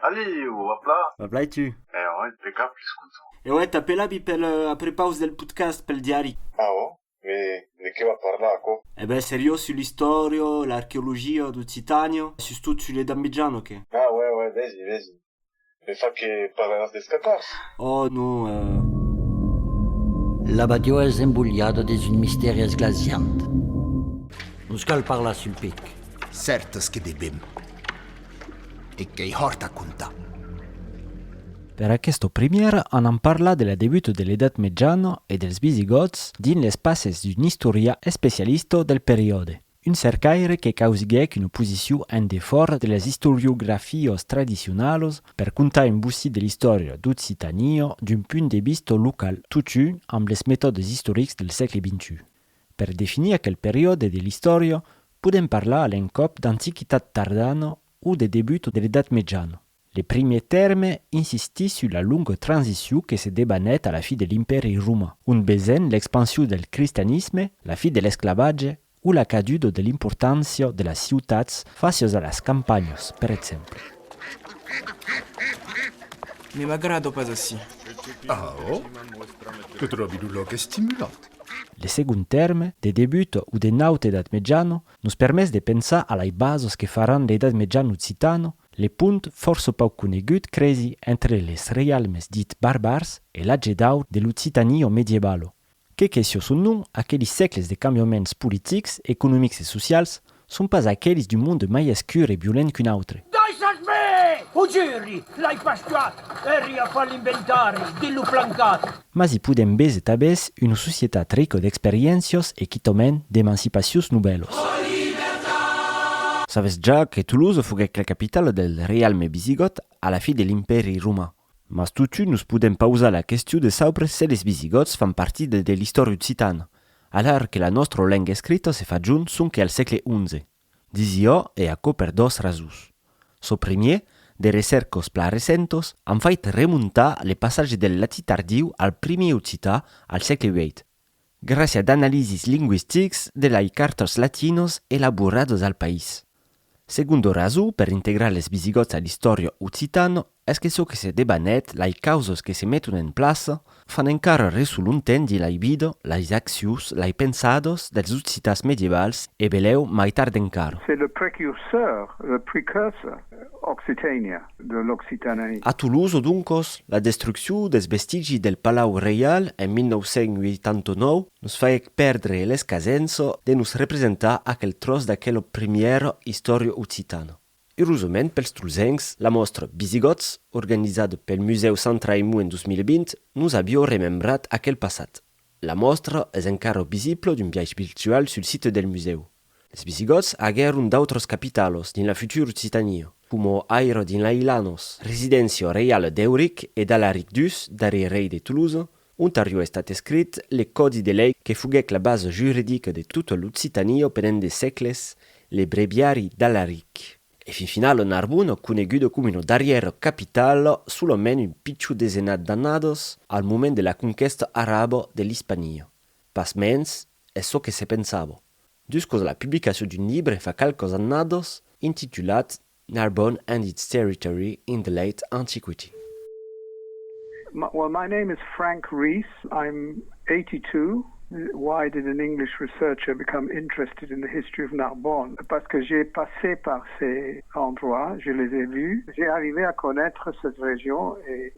Alliu, a pla! A pla e tu? E ò e pe cap l'escuto. E ò e t'apelavi pel a prepaus del putcast pel diari. A ò? Me de que va parlar aquò? E bè seriós su l'istòrio, l'archeologio d'Occitanio, sustot su le dambidjan o que? A uè uè vesi vesi. Me fa que pararàs dels cacòrs. Òh, non, eh. La badiòa es embolhada dins un mistèri esglasiant. Nos cal parlar sul pic. Cèrtes que devèm. E qu'ei hòrt a contar. Per aquesta primièra anam parlar de la debuta de l'Edat Mejana e dels Visigòts dins les passes d'un istorian especialista del periòde. Un cercaire que causiguèc una posicion en defòra de las istoriografias tradicionalas per contar un bocí de l'istòria d'Occitània d'un punt de vista local totun amb les metòdes istorics del sègle xxi. Per definir aquel periòde de l'istòria podèm parlar a l'encòp d'Antiquitat tardana o de debut de l'Edat Mejana. Le primier tèrme insistís sus la longa transicion que se debanèt a la fi de l'Impèri roman, ont besèn l'expansion del cristianisme, la fi de l'esclavatge o la caduda de l'importància de las ciutats fàcias a las campanhas, per exemple. Ne m'agrada pas ací. Aò? Que tròbi lo lòc estimulant. Le segond tèrme, de debut o de naut edat-mejana, nos permés de pensar a lai basas que faràn l'edat-mejana occitana, Le pont fòrça pauc conegut cresi entre les reialmes dits barbars e l'atge d'aur de l'Occitanio medievalo, que qu'es çò son nom, aquelis sècles de cambiaments politics, economics e socials, son pas aquelis d'un monde mai escur e violent qu'un autre. Daissas me! Ho juri! L'ai pas tuat! Eri a far l'inventari de lo plancat! Mas i podèm bes e tabès una societat rico d'experiéncios e quitòment d'emancipacions nobèlos. Sabes ja que Toulouse foguèc la capitala del reialme visigòt a la fi de l'Impèri roman. Mas totun nos podèm pausar la question de saubre se les visigòts fan partida de l'istòria occitana, alara que la nòstra lenga escrita se fa junt sonque al sègle xi. Disio e aquò per dos rasons. Çò primier, de recercos plan recentos an fait remontar le passatge del latin tardiu al primier occitan al sègle vièit, gràcia d'analisis lingüistics de lai cartòs latinos elaborados al país. Segondo rason, per integrar les visigòts a l'istòria occitano Es que çò que se debanèt, lai causas que se meton en plaça, fan encara resolontendi lai vida, lais accius, lai pensadas dels occitans medievals e belèu mai tard encara. C'est le précurseur, le precursor, Occitania, de l'Occitanie. A Tolosa, doncas, la destruccion dels vestigi del Palau Reial en 1989 nos faguèc pèrdre l'escasença de nos representar aquel tròç d'aquela primièra istòria occitana. Erosament pels tolzencs, la mòstra Visigòts, organizada pel Musèu Sant Raimon en 2020, nos a biò remembrat aquel passat. La mòstra es encara visibla d'un biais virtual sul site del musèu. Es Visigòts aguèron d'autras capitalas dins la futura Occitania, coma Aire dins l'Ailanòs, residéncia reiala d'Euric e d'Alaric ii, darrièr rei de Tolosa, Ontàrio estat escrit le còdi de lei que foguèc la basa juridica de tota l'Occitània pendent de sègles, le breviari d'Alaric. E fin finala Narbona, coneguda coma una darrièra capitala solament un pichon desenat d'annadas al moment de la conquèsta araba de l'Ispania. Pasmens, es çò que se pensava. Duscos la publicacion d'un libre fa qualques annadas, intitulat Narbonne and its territory in the late antiquity. Well my name is Frank Rees, I'm eighty two, why did an English researcher become interested in the history of Narbonne? Parce que j'ai passé par ces endroits, je les ai vus, j'ai arrivé à connaître cette région et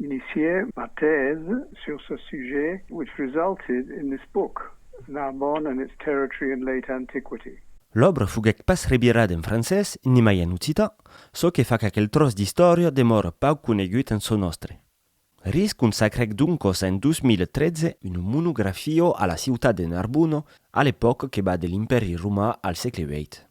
Inicié ma thèse sur ce sujet which resulted in this book, Narbonne and its territory in late antiquity. L'òbra foguèt pas revirada en francés, nimai en occitan, çò que fa qu'aquel tròç d'istòria demòra pauc conegut en çò nòstre. Risch consacrèc doncas en 2013 una monografia a la ciutat de Narbona, a l'epòca que va de l'Impèri Romà al sègle viii.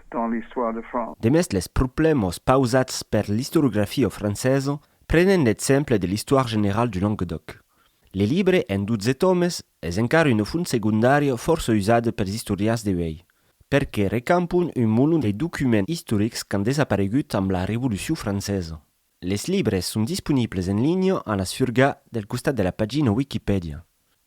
dans l'histoire de France. Demest les problèmas pausats per l'istoriografia francesa prenen l'exemple de l'Histoire generale du Languedoc. Le libre, en 12 tomes, es encara una font segondària fòrça usada pels istorians de uèi, perque recampon un molon de documents istorics qu'an desaparegut amb la Revolucion francesa. Les libres son disponibles en linha a la surga del costat de la pagina Wikipèdia.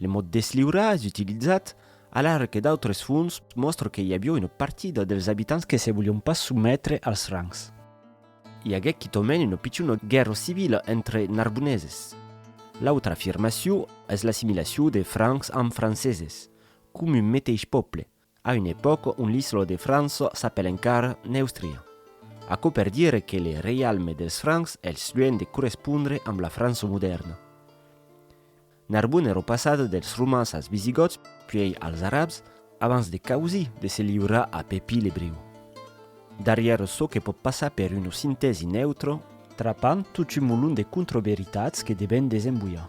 Lo mot desliurar es utilizat, alara que d'autres fonts mòstra que i avió una partida dels abitants que se volion pas sometre als Francs. I aguèt quitament una pichona guèrra civila entre Narboneses. L'autra afirmacion es l'assimilacion de Francs amb Franceses, com un meteis pòble, A un epòc on l'isla de França s'apèl encara Neustria. Aquò per dire que le reialme dels Francs es luènh de correspondre amb la França modèrna. Narbona èra passada dels Romans als Visigòts puèi als Arabs abans de causir de se liurar a Pepí l'Ebreu. Darrièr çò que pòt passar per una sintèsi neutra, trapant tot un molon de contraveritats que devèn desemboiar.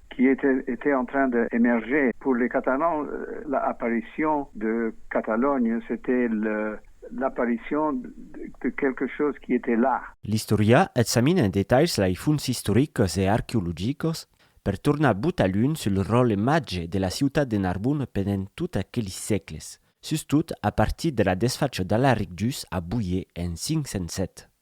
qui etait en train d'emerger. Pour les Catalans, l'apparition de Catalogne, c'etait l'apparition de quelque chose qui etait là. L'Istòria examina en detalhs lai fons istoricos e arqueologicos per tornar but a lunh sul ròl imatge de la ciutat de Narbon pendent tot aquelis sègles, sustot a partir de la desfacha d'Alaric Duz a Boyer en 507.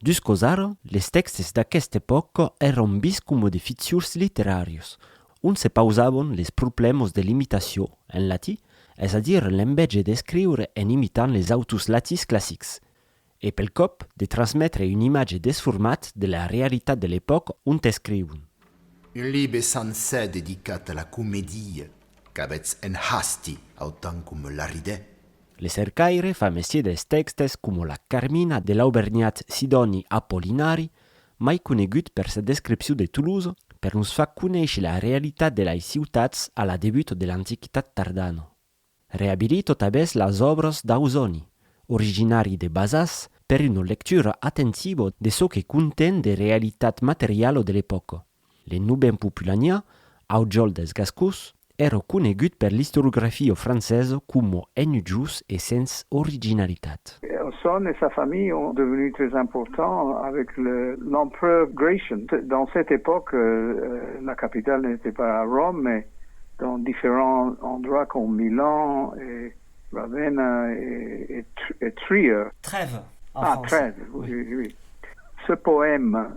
Dus causar, les tèxtes d'aquesta epòca èron biscum de fitures literàrios, ont se pausavan les problèmas de l'imitacion en latí, es a dire l'envèja d'escriure en imitant les autors latins classics, e pel còp de transmetre un imatge desformat de la realitat de l'epòca ont escrivon. Un libre sancèr dedicat a la comedia qu'avètz en hasti, autant coma l'arridèt, Le cercaire fa mestier dels tèxtes coma la Carmina de l'aubergnat Sidòni Apollinari, mai conegut per sa descripcion de Toulouse, per nos far conéisher la realitat de lei ciutats a la debut de l'Antiquitat tardana. Reabilit totabèth las òbras d'Ausòni, originari de Bazas, per una lectura atentivo de çò que conten de realitat materiala de l'epòca. Le nobèn populanià, aujòl dels gascons, èra conegut per l'istoriografio francesa coma enujós e sens originalitat. Son e sa familha ont devenus tres importants avec l'empereur Gratian. Dans cette époque, la capitale n'était pas à Rome, mais dans différents endroits com Milan e Ravenna e Trier. Trèves, en français. Ah, Trèves, oui, oui. Ce poème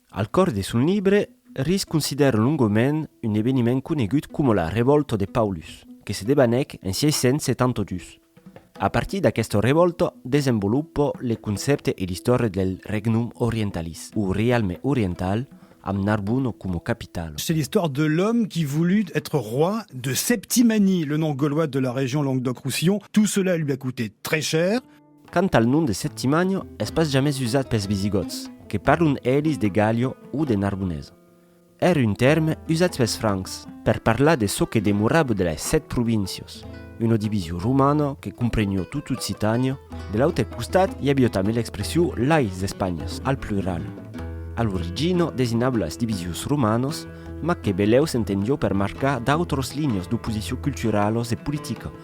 Al còr de son libre, Ries considèra longament un eveniment conegut coma la Revòlta de Paulus, que se debanèc en 672. A partir d'aquesta revòlta desenvolupa le concèpte e l'istòria del Regnum Orientalis, o Rialme Oriental, amb Narbona coma capitala. C'est l'histoire de l'homme qui voulut être roi de Septimanie, le nom gaulois de la région Languedoc-Roussillon. Tout cela lui a coûté très cher. Quant al nom de Septimània, es pas jamès usat pels visigòts, que parlon elis de Gàllia o de Narbonesa. Èra un tèrme usat pels francs per parlar de çò que demorava de las Sèt Províncias, una division romana que compreniá tota Occitània. De l'autre costat, i aviá tanben l'expression lais Espànhas, al plural. A l'origina designava las divisions romanas, mas que belèu s'entendió per marcar d'autras linhas d'oposicion culturalas e politica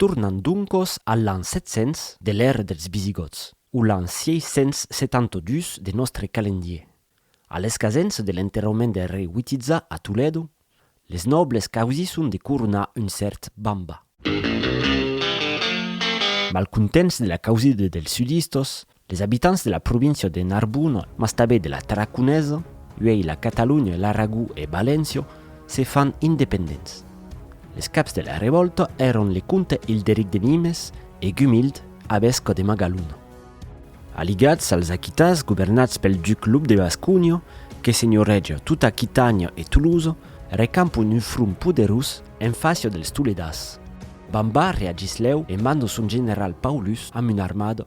Tornan doncos a l'an 700 de l'èra dels Visigòts, o l'an 672 de nòstre calendier. A l'escasença de l'enterrament del rei Witiza a Toledo, les nòbles causisson de coronar un cèrt Bamba. Malcontents de la causida dels sudistas, Les abitants de la província de Narbona, mas tabé de la Tarraconesa, uèi la Catalonha, l'Aragó e Valéncia, se fan independents. Les caps de la revòlta èron le comte Hilderic de Nimes e Gumild, avesca de Magalona. Aligats als Aquitans governats pel duc Lop de Basconha, que senhoreja tota Aquitània e Tolosa, recampon un front poderós en fàcia dels Toledans. Bambard reagís lèu e manda son general Paulus amb una armada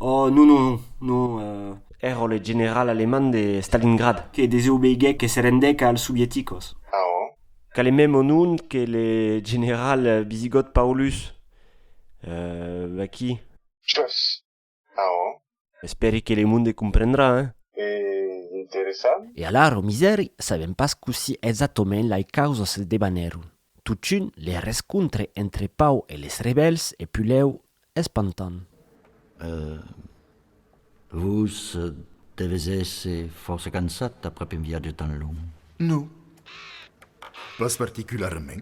Oh, non, non, non, non, eh. Ero le general alemand de Stalingrad. Que desobeiguèc e se rendèc als sovieticos. Ah, oh. Qu'a le mèm onon que le general bisigòt Paulus. Eh, aquí. Chòs. Ah, oh. Espèri que le monde comprendrà, eh. E interessant. E alara, o misèri, sabèm pas cossí exactament lai causas se debanèron. Totun, le rescontre entre Pau e les rebèls e Pulèu es pantan. E vos deves èsser fòrça cansat aprèp un viatge tan long? Non, pas particularament.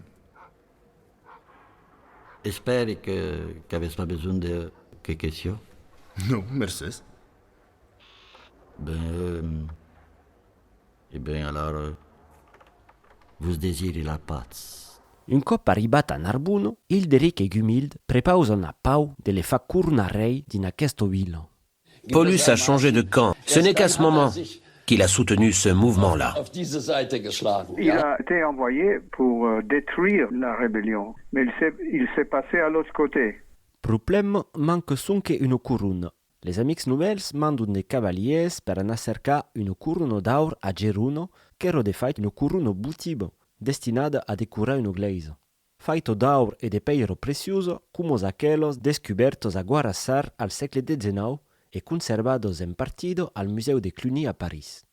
Espèri qu'avètz pas besonh de que question. Non, mercés. Ben, E ben alara vos desiri la patz. Un còp arribat a Narbono, Hilderic e Gumild prepausan a Pau de le far cornar rei dins aquesta vila. Paulus a changé de camp, ce n'est qu'à ce moment qu'il a soutenu ce mouvement-là. Il a été envoyé pour détruire la rébellion, mais il s'est passé à l'autre côté. Problèma, manque sonque una corona, Les amics novèls mandon de cavaliers per anar cercar un coruno d'aur a Geruno, qu'èro de fait un coruno votivo, destinat a decorar una glèisa. Faito d'aur e de pèiro precioso, cumos aquelos descubèrtos a Guarassar al sègle xix e conservados en partido al Musèu de Cluny a París.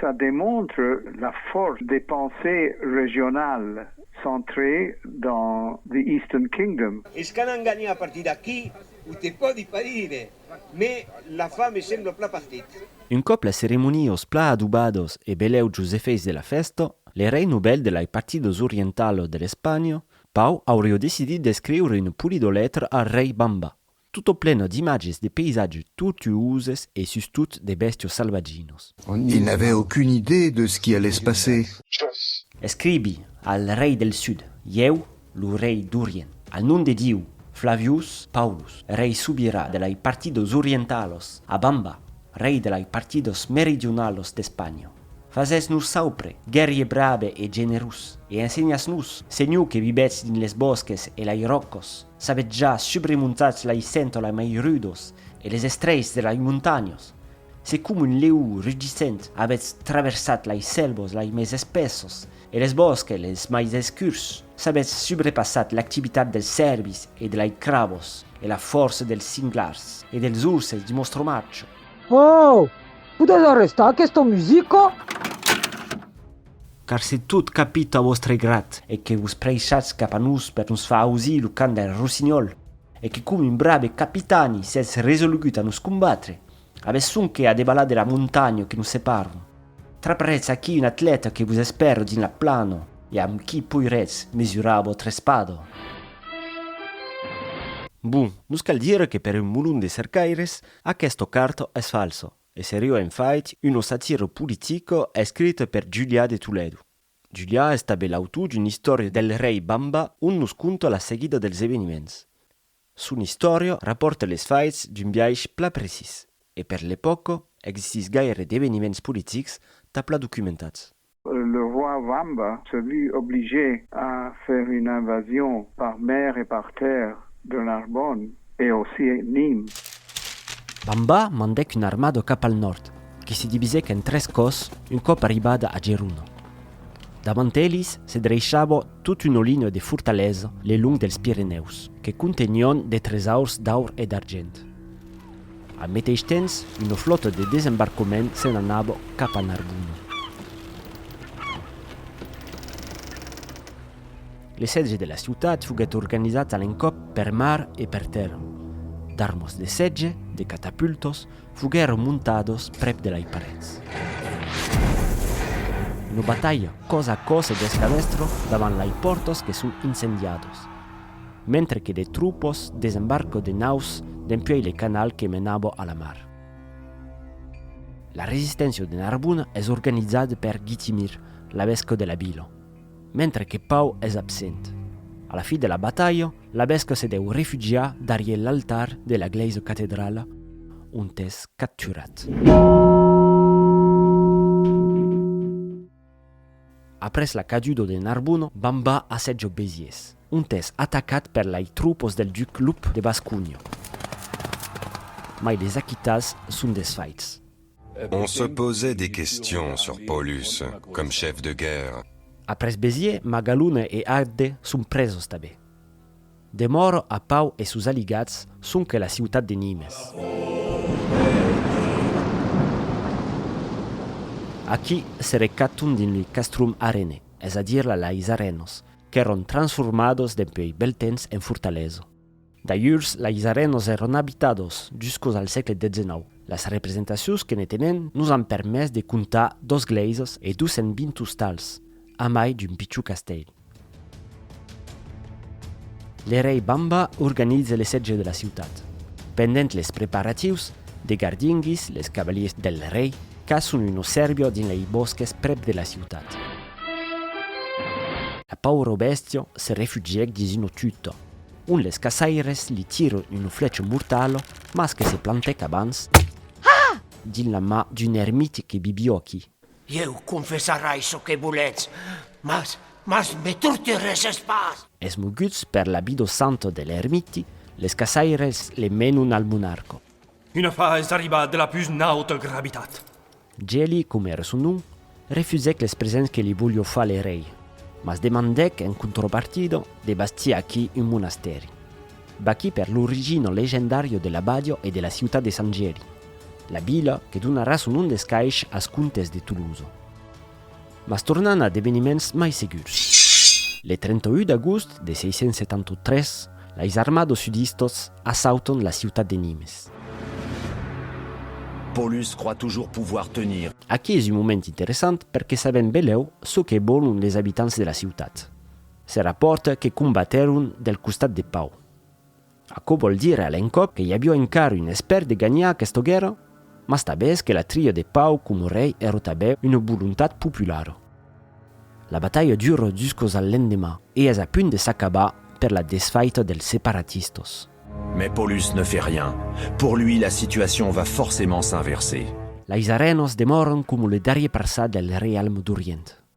Ça demontre la fòrça de pensée regionale centrée dans The Eastern Kingdom. Es qu'an enganhat a partir d'aquí, o te pòdi pas dire, mé la fa me sembla pla partit. Un còp las ceremonios pla adubados e belèu jos efèits de la fèsta, le rei novèl de lai partidos orientalo de l'Espanha, Pau aurió decidit d'escriure una polidolètra al rei Bamba, Totoplena d'imatges de paysatges tortuoses e sustot de bèstios salvatginos. Il n'avait aucune idée de ce qui allait se passer. Escribi al rei del sud, ieu, lo rei d'Orient, al nom de Diu, Flavius Paulus, rei sobirà de lei partidos orientalos, a Bamba, rei de lei partidos meridionalos d'Espanha. Fasètz-nos saupre, guerrier brave e generós, e ensenhatz-nos, senhor que vivètz dins les bòsques e lei ròcos, S'avètz ja subremontats lai sèntola mai rudos e les estreits de lai montanhos, se com un lèu rugissent avètz traversat lai sèlvos lai mès espessos e les bòsques les mai escurs, s'avètz subrepassat l'activitat dels cèrvis e de lai crabos e la fòrça dels cinglars e dels urses di Mostromacho. Ohh! Podètz arrestar aquesta musica? Car se tot capita a vòstre grat. E que vos preishatz cap a nos per nos far ausir lo cant del rossinhòl, e que com un brave capitani sètz resolugut a nos combatre, avètz sonque a debalar de la montanha que nos separon. Traparetz aquí un atleta que vos espèra dins la plana e amb qui poiretz mesurar vòstre espada. Bon, nos cal dire que per un mulon de cercaires, aquesta carta es falsa. E seriò en fait, uno satiro politico escrit per Julià de Toledo. Julià es tanben l'autor d'una istòria del rei Bamba ont nos conta la seguida dels eveniments. Son istòria rapòrta les faits d'un biais plan precís e per l'epòca existís gaire d'eveniments politics tà plan documentats. Le roi Wamba se vu obligé a faire une invasion par mer et par terre de Narbonne et aussi Nîmes. Wamba mandèc una armada cap al nòrd, que se divisèc en tres còs un còp arribada a Geruna. Davant elis se dreishava tot una linha de fortalesa le long dels Pirenèus, que contenión de tresaurs d'aur e d'argent. Al meteis tens, una flòta de desembarcament se n'anava cap a Narbona. L'esetge de la ciutat foguèt organizat a l'encòp per mar e per tèrra. D'armas de setge, de catapultas, foguèron montadas prèp de lai parets. Una batalha còs a còs e d'escamèstra davant lai pòrtas que son incendiadas. Mentre que de troupes desembarquent de naus dempuèi le canal que menava a la mar. La resisténcia de Narbona es organizada per Guitimir, l'abesca de la vila, mentre que Pau es absent. A la fi de la batalha, l'abesca se deu refugiar darrier l'altar de la glèisa catedrala ont es capturat. Après la cadudo de Narbonne, Bamba assetja Béziers, ont es atacat per lai troupes del duc Loup de Bascogna. Mai les Aquitans son desfaits. On se pausait des questions sur Paulus comme chef de guerre. Après Béziers, Magalone e Agde son preses tanben. Demor a Pau e sus aligats sonque la ciutat de Nimes. Aquí se recaton dins li castrum arenais, es a dire la lais arenos, qu'èron transformados dempuèi bèl temps en fortalesa. D'alhurs lais arenos èron abitados juscos al sègle xix. Las representacions que ne tenen nos an permés de comptar dos glèisas e 220 ostals. A mai d'un pichon castèl. L'erèi Bamba organiza le sètge de la ciutat. Pendent les preparatius, de gardinguis, les cavaliers del rei, caçon un ossèrbio dins lei bòsques prèp de la ciutat. La pauro bèstia se refugièc dins una tuta, ont les caçaires li tiron una flècha mortala mas que se plantèc abans dins la mà d'un ermiti que bibió aquí. Ieu confessarai çò que voletz, mas, mas me torturesses pas! Esmoguts per l'abido santo de l'ermiti, les caçaires le menon al monarco. Un afar es arribat de la pus nauta gravitat. Geli, com era son nom, refusèc les presents que li volió far le rei, mas demandèc en contropartida de bastir aquí un monastèri. Vaqui per l'origina legendària de l'abadiá e de la ciutat de Sant Gièri, la vila que donarà son nom d'escaish as comtes de Tolosa. Mas tornan a d'eveniments mai segurs. Le 31 d'agost de 673, lais armados sudistas assautan la ciutat de Nimes. Paulus croit toujours pouvoir tenir. Aquí es un moment interessant perque sabèm belèu çò que vòlon les abitants de la ciutat. Se rapòrta que combatèron del costat de Pau. Aquò vòl dire a l'encòp que i avió encara un espèr de ganhar aquesta guèrra, mas tanbés que la tria de Pau coma rei èra tanben una volontat populara. La batalha dura juscos al lendemà e es a punt de s'acabar per la desfaita dels separatistas. Mais Paulus ne fait rien. Pour lui, la situacion va forcément s'inverser. Lais Arènas demòran coma le darrier parçat del reialme d'Orient.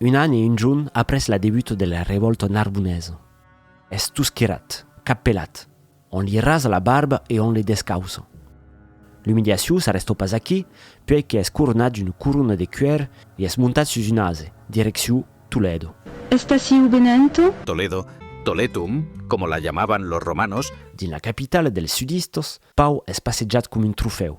Un an e un jorn après la debuta de la revòlta narbonesa, es tosquirat, cap pelat, on li rasa la barba e on le descausa. L'umiliacion s'arrestò pas aquí, puèi que es coronat d'una corona de cuèr e es montat sus un ase, direccion Toledo. Estasiu Benento? Toledo, Toletum, coma la jamavan los romanos. Dins la capitala dels sudistas, Pau es passejat coma un trofèu,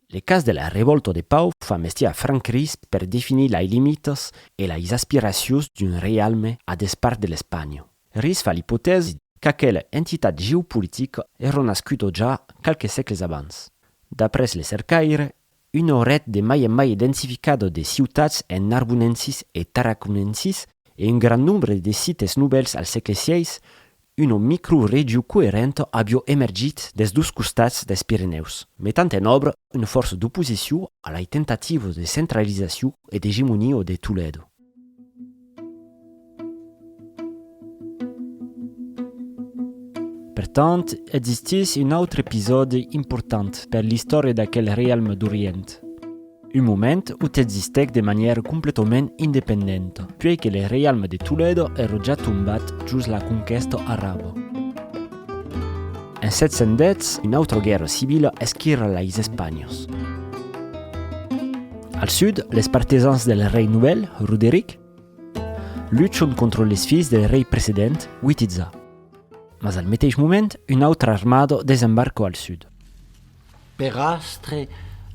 Le cas de la revòlta de Pau fa mestier a Franck Ries per definir lai limitas e lais aspiracions d'un reialme a despart de l'Espanha. Ries fa l'ipotèsi qu'aquela entitat geopolitica èra nascuda ja qualques sègles abans. D'après le cercaire, una ret de mai en mai densificada de ciutats en narbonensis e tarraconensis e un grand nombre de sites novèls al sègle xvi Una microregiu coerenta avió emergit des dos costats des Pirenèus, metant en òbra una fòrça d'oposiciu a lai tentativas de centralizaciu e d'egemonia de Toledo. Pertant, existís un autre episòdi important per l'istòria d'aquel realme d'Orient. un moment o t'existèc de manièra completament independenta, puèi que le reialme de Toledo èra ja tombat jos la conquèsta araba. En 710, una autra guèrra civila esquirra leis Espanhas. Al sud, les partisans del rei novèl, Roderic, luchon contra les filhs del rei precedent, Witiza. Mas al meteis moment, una autra armada desembarca al sud. Per astre,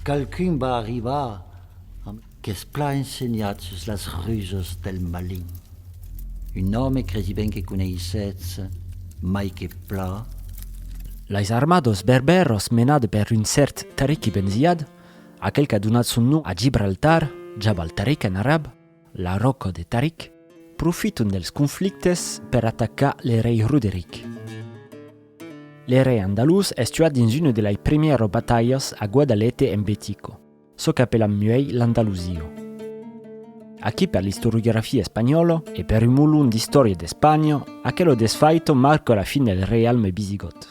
qualqu'un va arribar amb. Qu'es plan ensenhat sus las rusas del malin. Un òme cresi ben que coneissetz mai que plan. Lais armados berbèros menat per un cèrt Tariq ibn Ziyad, aquel qu'a donat son nom a Gibraltar, Jabal Tariq en arab, La Ròca de Taric, profiton dels conflictes per atacar le rei Roderic. Le rei andalús es tuat dins una de lai primièro batalhas a Guadalete en Betico, çò qu'apelam muèi l'Andalusio. Aquí per l'istoriografia espanhòla e per un molon d'istòria d'Espanha, aquelo desfaito marca la fin del reialme bisigòt.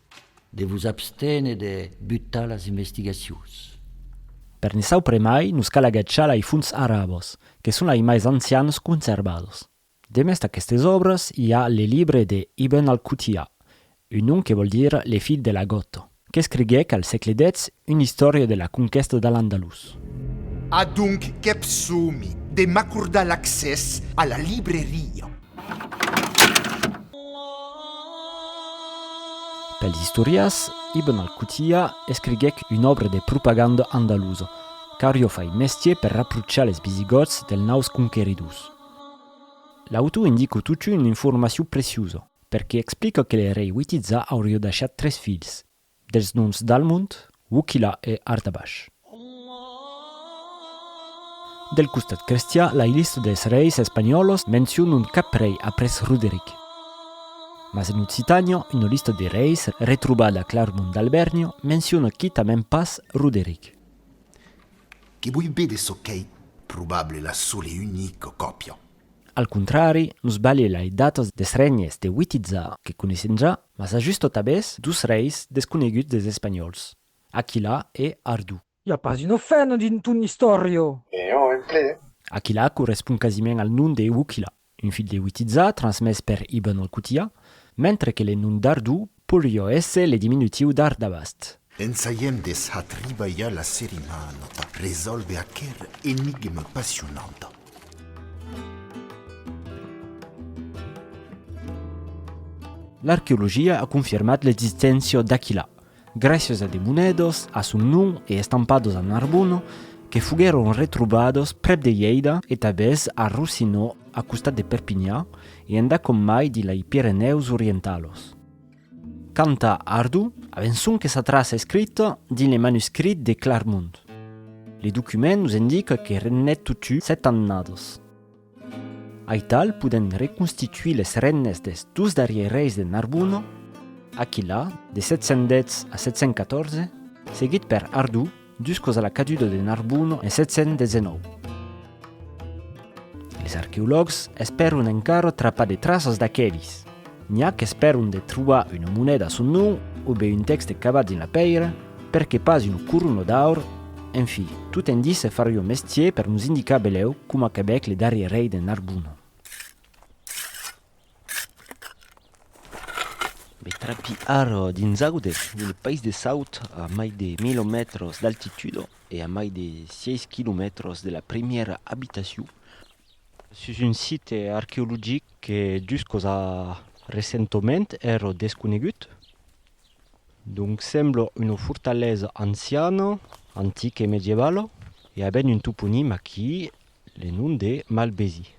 De vos abstene de butar las investigacions. Per ne saupremai nos cal agachar lai fonts arabos, que son lai mais ancians conservados. Demest aquestes òbres i a le libre de Ibn al-Qutiyya, un nom que vòl dire le filh de la gota, qu'escriguèc al sègle dètz una istòria de la conquèsta de l'Andalús. Adonc qu'èp somi de m'acordar l'accès a la libreria. Pels istorias, Ibn al-Qutiyya escriguèc una òbra de propaganda andalusa, qu'aurió fait mestier per raprochar les Visigòts dels naus conqueridors. L'autor indica totun una informacion preciosa, perque explica que le rei Witizà aurió deishat tres filhs, Dels noms d'Almont, Wuchila e Artabash. Del costat crestian, la lista dels reis espanhòlos mencionon cap rei après Roderic. Mas en Occitània, una lista de reis retrobada a Clarmont d'Albèrnia menciona quitament pas Roderic. Que voi be de çò qu'ei probable la sola e unica còpia. Al contrari, nos balhe lai datas des règnes de Witiza que coneissemja Mas a just tot abés dus reis desconeguts des Espanhòls, Aquilà e Ardú. I a pas una fena dins ton istòria! E jo en ple! Aquilà correspond quasiment al nom de Wuchila, un filh de Witiza transmés per Ibn al-Qutiyya, mentre que le nom d'Ardú poirió èsser le diminutiu d'Ardabast. Ensaièm des a tribalhar la serie mana tà resòlver aquera enigma passionanta. L'arqueologia a confirmat l'existéncia d'aquilà, gràcias a de monèdas a son nom e estampadas a Narbona que foguèron retrobadas prèp de Lleida e tabès a Rossinó a costat de Perpinha e endacòm mai dilà i Pirenèus orientalos. Quant a Ardo, avençon que sa traça escrita dins le manuscrit de Clarmont. Le document nos indica que regnèt totun sèt annadas. Aital podèm reconstituir les regnes dels dos darrièrs reis de Narbona, Aquilà, de 710 a 714, seguit per Ardo, Jusquaus a la caduda de Narbonne en 719, les arqueològs espèron encara trapar de traças d'aquelis. N'i a qu'espèron de trobar una moneda a son nom o be un tèxte cavat dins la pèira, per que pas una corona d'aur, en fi, tot indice farion mestier per nos indicar belèu coma qu'abec le darrier rei de Narbonne. Me trapi ara dins Aude, un país de saut a mai de 1000 mètres d'altitude e a mai de 6 quilomètres de la primièra abitacion, sus un site arqueologic que jusqu'os a recentament èra desconegut. Donc sembla una fortalesa anciana, antica e medievala e a ben un toponim aquí, le nom de Malbesi.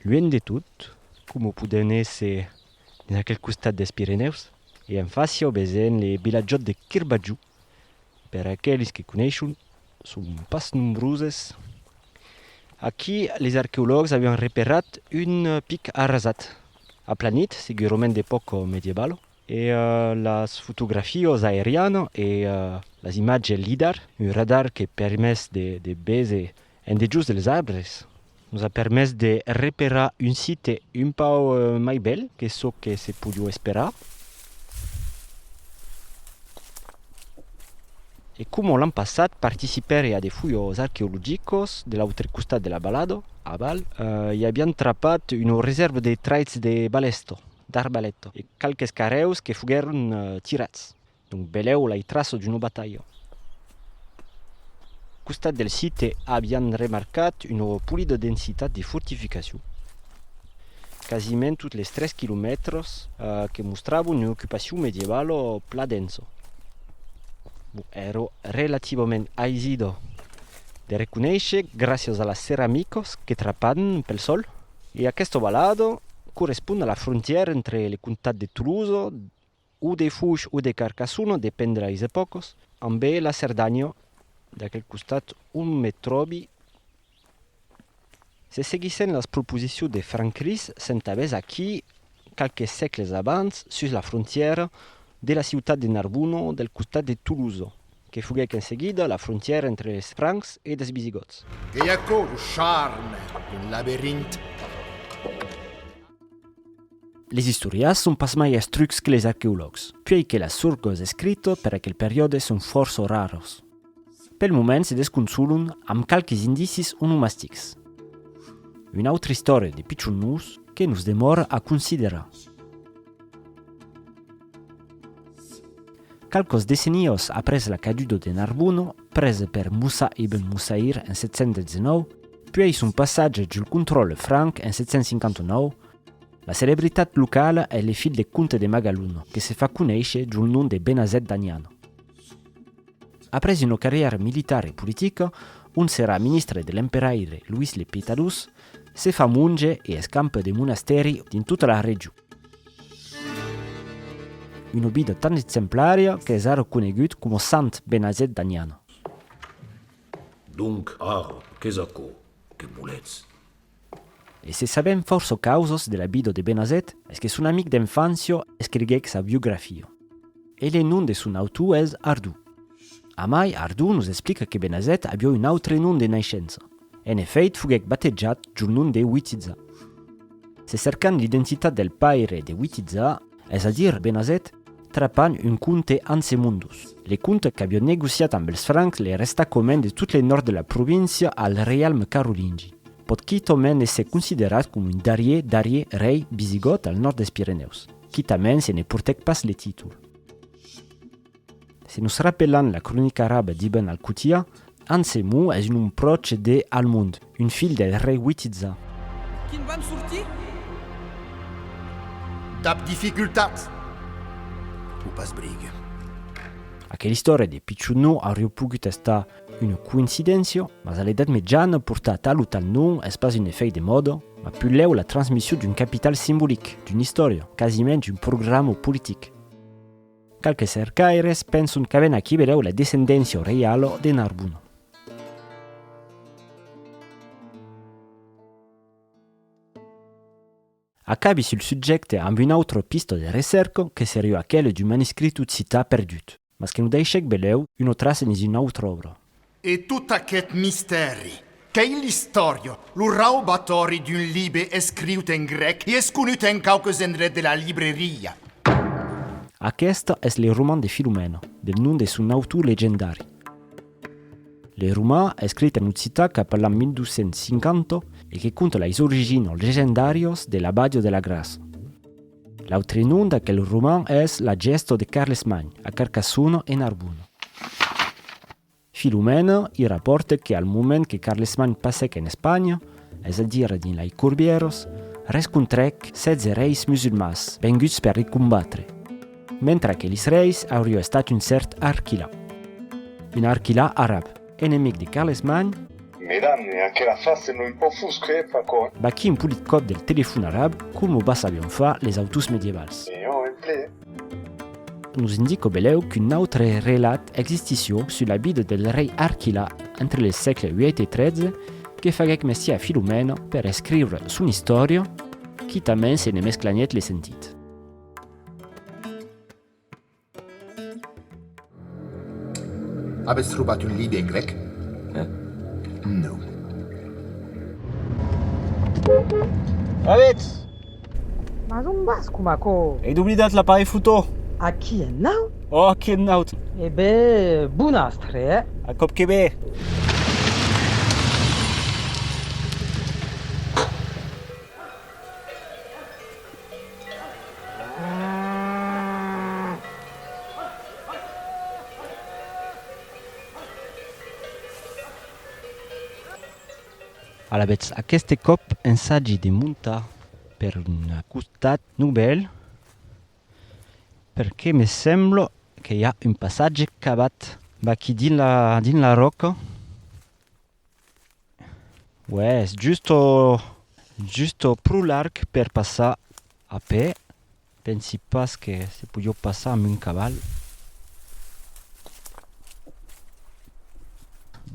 Luènh de tot, coma podèn èsser dins aquel costat des Pirenèus, e en fàcia o besènh le vilatjòt de Kirbajou, per aqueles que coneishon, son pas nombroses, aquí les arqueològs avián reperat un pic arrasat, aplanit, segurament d'epòca medievalo, e las fotografios aerianas e las imatges lidar, un radar que permés de béser En dejós dels arbres nos a permés de reperar un site un pauc mai bèl que çò que se podiá esperar. E coma l'an passat participèri a de fujos arqueologicos de l'autre costat de la balada, a Val, i avián trapat una resèrva de traits de balèsto, d'arbalèto, e qualques carrèus que foguèron tirats. Donc belèu lai traço d'una batalha. Costat del site avián remarcat una polida densitat de fortificacion, quasiment tot les tres quilomètres, que mostrava una ocupacion medievalo pla densa. Bon, èra relativament aisida de reconéisher gràcias a las ceramicas que trapan pel sòl e aquesta valada correspond a la frontièra entre le comtat de Tolosa, O de Fush o de Carcassona, dependre eis epòcas. Ambé la Cerdanya, d'aquel costat on me tròbi, se seguissent las proposicions de Francris s'entabés aquí qualques sècles abans sus la frontièra de la ciutat de Narbona del costat de Tolosa. Que foguèc en seguida la frontièra entre es Francs e des Visigòts. Qu'ei aquò lo charme d'un laberint. Les istorias son pas mai astrucs que les arqueològs, puèi que las sorgues escritas per aquel periòde son fòrça raras. Pel moment se desconsolan amb qualques indicis onomastics. Una autra istòria de pichon nus que nos demòra a considerar. Qualques decennios après la caduda de Narbona, presa per Musa ibn Musayr en 719, puèi son passatge jul contròle franc en 759, la celebritat locala es le filh de comte de Magalona que se fa conéisher jul nom de Benazet d'Aniana. Après una carrièra militar e politica, ont serà ministre de l'emperaire Louis le Pietadós, se fa monge e escampa de monastèri dins tota la region. Una obida tan exemplària qu'es ara conegut coma Sant Benazet d'Aniana. Donc, ara, qu'es aquò? Que voletz? E se sabèm fòrça causas de la vida de Benazet, es que son amic d'enfància escriguèc sa biografia. E le nom de son autor es Ardou. Amai, Ardou nos explica que Benazet aviá un autre nom de naishença. En efèit, foguèc batejat jo nom de Witiza. Se cercan l'identitat del paire de Witiza, es a dire Benazet, trapan un comte Ansemundus. Le comte qu'avió negociat amb els Francs le resta comen de tot le nòrd de la província al reialme carolingi. Pòt quitament èsser considerat com un darrier darrier rei visigòt al nòrd dels Pirenèus, quitament se ne portèc pas le títol. Se nos rapelan la cronica araba d'Ibn al-Qutiyya, Ansemu es un nom pròche de Al-Mund, un filh del rei Witizza. Quin van sortir? Dab dificultat, o pas brig. Aquela istòria de pichon no aurió pogut estar una coincidéncia, mas a l'Edat Mejana portar tal o tal nom es pas un efèit de mòda, mas pulèu la transmission d'un capital simbolic, d'una istòria, quasiment un programa politic. Qualques cercaires penson qu'avèn aquí velèu la descendéncia o reialo de Narbon. Acabi sul subjècte amb una autra pista de recèrca que serió aquela d'un manuscrit occitan perdut, mas que nos daishèc velèu una traça dins una autra òbra. E tot aqueth mistèri, qu'ei l'istòria, lo raubatòri d'un libe escriut en grèc e esconut en quauques endrets de la libreria. Aqueste es le roman de Filomena, del nom de son autor legendari. Le roman, escrit en occitan cap a l'an 1250 e que conta leis origines legendàrias de la Bàdia de la Grassa, L'autre nom d'aquel roman es La gèsto de Carlesmagn, a Carcassona e Narbona. Filomène i rapòrte que al moment que Carlesmagn passèc en Espanha, es a dire dins lei Corbièros, rescontrèc 16 reis musulmans venguts per li combatre, mentre aquelis reis aurió estat un cèrt Arquilà, un Arquilà arab. Enemic de Carlesman. Medan, e aquela face non pò fusque e fa còr. Baquí un polit còp del telefon arab, com o bassavion far les autors medievals. E jo en ple. Nos indicò belèu qu'un autre relat existissió sus la vida del rei Arquila entre les sègle vièit e tretze, que faguèc mestier a Filomèna per escriure son istòria, quitament se ne mesclanièt le sentit. Avètz trobat un libre en grèc? No. Avètz! Mas ont vas coma aquò? Ei doblidat l'aparelh fotó! Aquí en naut? Oh, aquí en naut! E be bon astre, eh? A còp que be! Alavetz, aqueste còp ensagi de montar per un costat novèl perque me sembla que i a un passatge cavat vaquí dins la ròca. Uèès, justo justo pro larg per passar a pè, pensi pas que se podió passar amb un caval.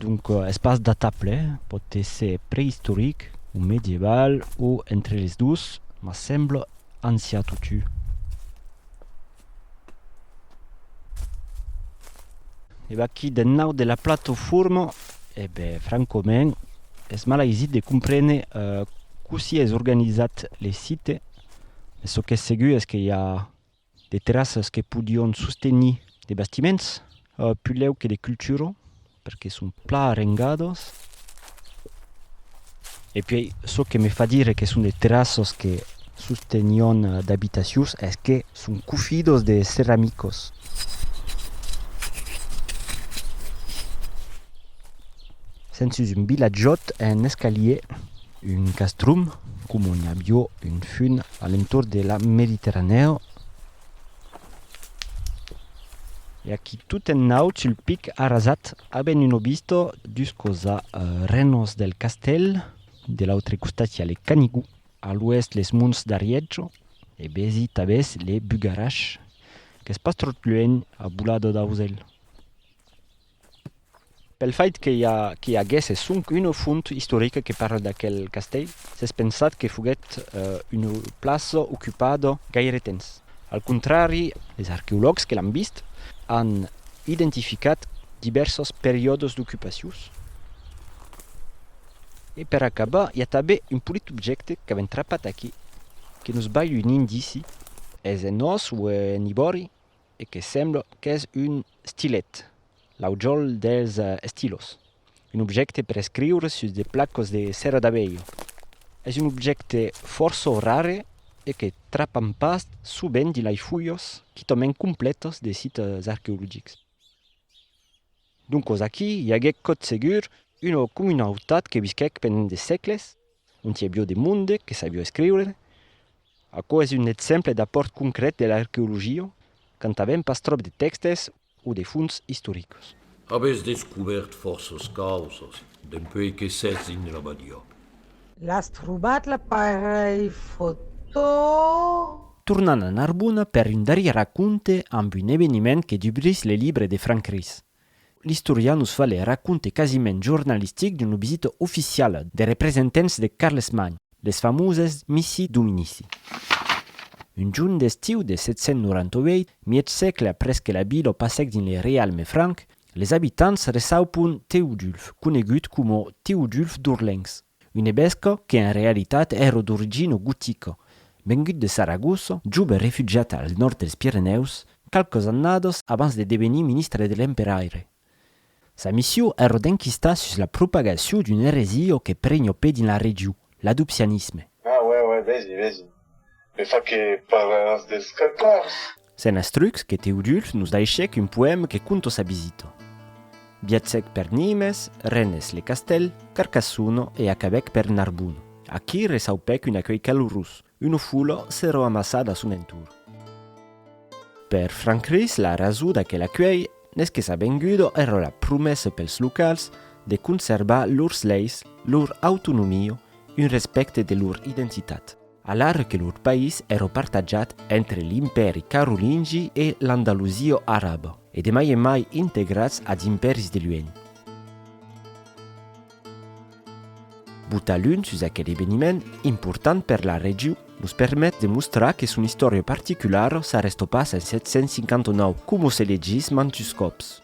Donc es pas datable, pòt èsser preïstoric o medieval o entre les dos, mas sembla ancian totjorn. E vaquí de nau de la platoforma, e be francament es mal aisit de comprene cossí es organizat le site, mes çò qu'es segur es que i a de terrassas que podion sostenir de bastiments, pulèu que de cultura, perque son plan arrengados e puèi çò que me fa dire que son de terraços que sostenion d'abitacions es que son cofidos de ceramicos sèn sus un vilatjòt un escalier un castrum coma un avió un fum a l'entorn de la mediterranèo E aquí tot en naut sul pic arrasat aben un obisto dus cosa renos del castèl, de l'autre costat i a le Canigou, a l'oèst les monts d'Ariètjo e besi tabès le Bugarach qu'es pas tròt luènh a bolada d'ausèl. Pel fait que i aguèsse sonque una font istorica que parle d'aquel castèl, s'es pensat que foguèt una plaça ocupada gaire temps. Al contrari, los arqueològs que l'an vist an identificat divèrsas periòdas d'ocupacions. E per acabar, i a tanben un polit objècte qu'avèm trapat aquí que nos balh un indici, es en ós o en ivòri? e que sembla qu'es un stilet, l'aujòl dels estilos, un objècte per escriure sus de placas de cera d'abelha. Es un objècte fòrça rare e que trapam pas sovent dins lei fulhas quitament complètas de sites arqueologics. Doncas aquí i aguèt cotsegur una comunautat que visquèc pendent de sègles Un tièbió de monde que sabió escriure. Aquò es un exemple d'apòrt concret de l'arqueologia quand n'avèm pas tròp de tèxtes o de fonts istoricas. Avètz descubèrt fòrças causas dempuèi que sètz dins l'abadiá. L'as trobat l'aparelh fotó? Tornan a Narbona per un darrièr raconte amb un eveniment que dubrís le libre de Franc Ris. L'istorian nos fa le raconte quasiment jornalistic d'una visita oficiala de representants de Carlesmagn, les famoses Missi Dominici. Un jorn d'estiu de 798, mièg sègle après que la vila passèc dins le reialme franc, les abitants reçaupon Teodulf, conegut coma Teodulf d'Orlencs. Un ebesco que en realitat èro d'origino gotico, vengut de Saragossa, jove refugiat al nòrd dels Pirenèus, qualques annadas abans de devenir ministre de l'emperaire. Sa missiu èro d'enquistar sus la propagaciu d'un eresio que prenho pe dins la regiu, l'adopcianisme. Ah, uè, uè, vesi, vesi. Me fa que parlaràs dels Catars! Se'n astruc que Teodulf nos daishèc un poèm que conto sa visita. Viatgèc per Nimes, Rennes, le castèl, Carcassona e acabèc per Narbona. Aquí reçaupèc un acuelh calorós, una fola s'èra amassada a son entorn. Per Franc Ris la rasó d'aquel acuelh n'es que sa venguda èra la promessa pels locals de conservar lors leis, lor autonomia, un respècte de lor identitat. Alara que lor país èra partatjat entre l'Impèri carolingi e l'Andalusia araba, e de mai en mai integrats als impèris de luenh. Botar l'un sus aquel eveniment important per la region nos permet de mostrar que son istòria particulara s'arrèsta pas en 759, coma se legís mantus còps.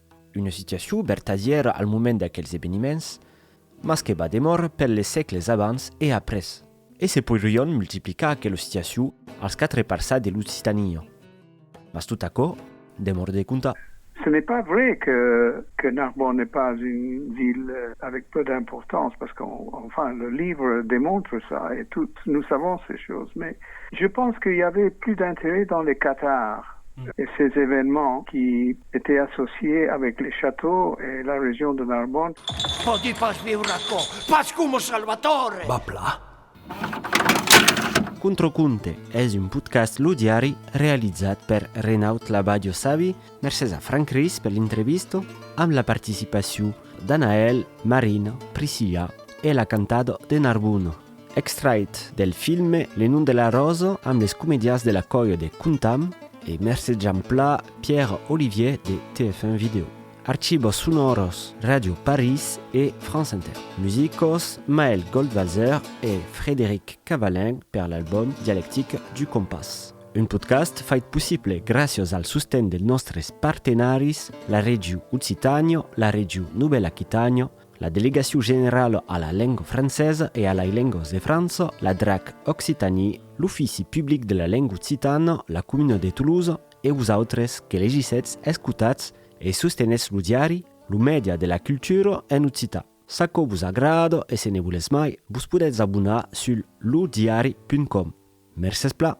Una situacion vertadièra al moment d'aquels eveniments, mas que va demòrrer per les sègles abans e après. E se poirion multiplicar aquela situacion als quatre parças de l'Occitania. Mas tot aquò demòra de contar. Ce n'est pas vrai que Narbonne n'est pas une ville avec peu d'importance, parce qu'enfin le livre démontre ça et tous nous savons ces choses, mais je pense qu'il y avait plus d'intérêt dans les cathares et ces événements qui Etait associé avec les châteaux et la région de Narbonne. Pòdi pas viure aquò, pas coma Salvatore! B'as plat? Contraconte es un podcast Lo Diari realizat per Renaud Labadio Savi, mercés a Franck Ris per l'intrevista, amb la participacion d'Anaëlle, Marina, Priscilla e la cantador de Narbona. Extrait del filme Le nom de la rose amb les comedians de la còia de Contam e Mercè Jamplà, Pierre Olivier de TF1 Video. Archivos sonòros Ràdio París e France Inter. Musicos Maël Goldwasser e Frédéric Cavallin per l'album Dialectique du Compas. Un podcast fait possible gràcias al sosten dels nòstres partenaris, la Regiu Occitània, la Regiu Novèl Aquitània, La Delegacion Generala a la Lenga Francesa e a lai Lengas de França, la drac Occitanie, l'Ofici Public de la Lenga Occitana, la Comuna de Toulouse e vos autres que legissetz, escotatz e sostenetz lo diari, lo mèdia de la cultura en occitan. S'aquò vos agrada e se ne volètz mai, vos podètz abonar sul lodiari.com. Mercés plan!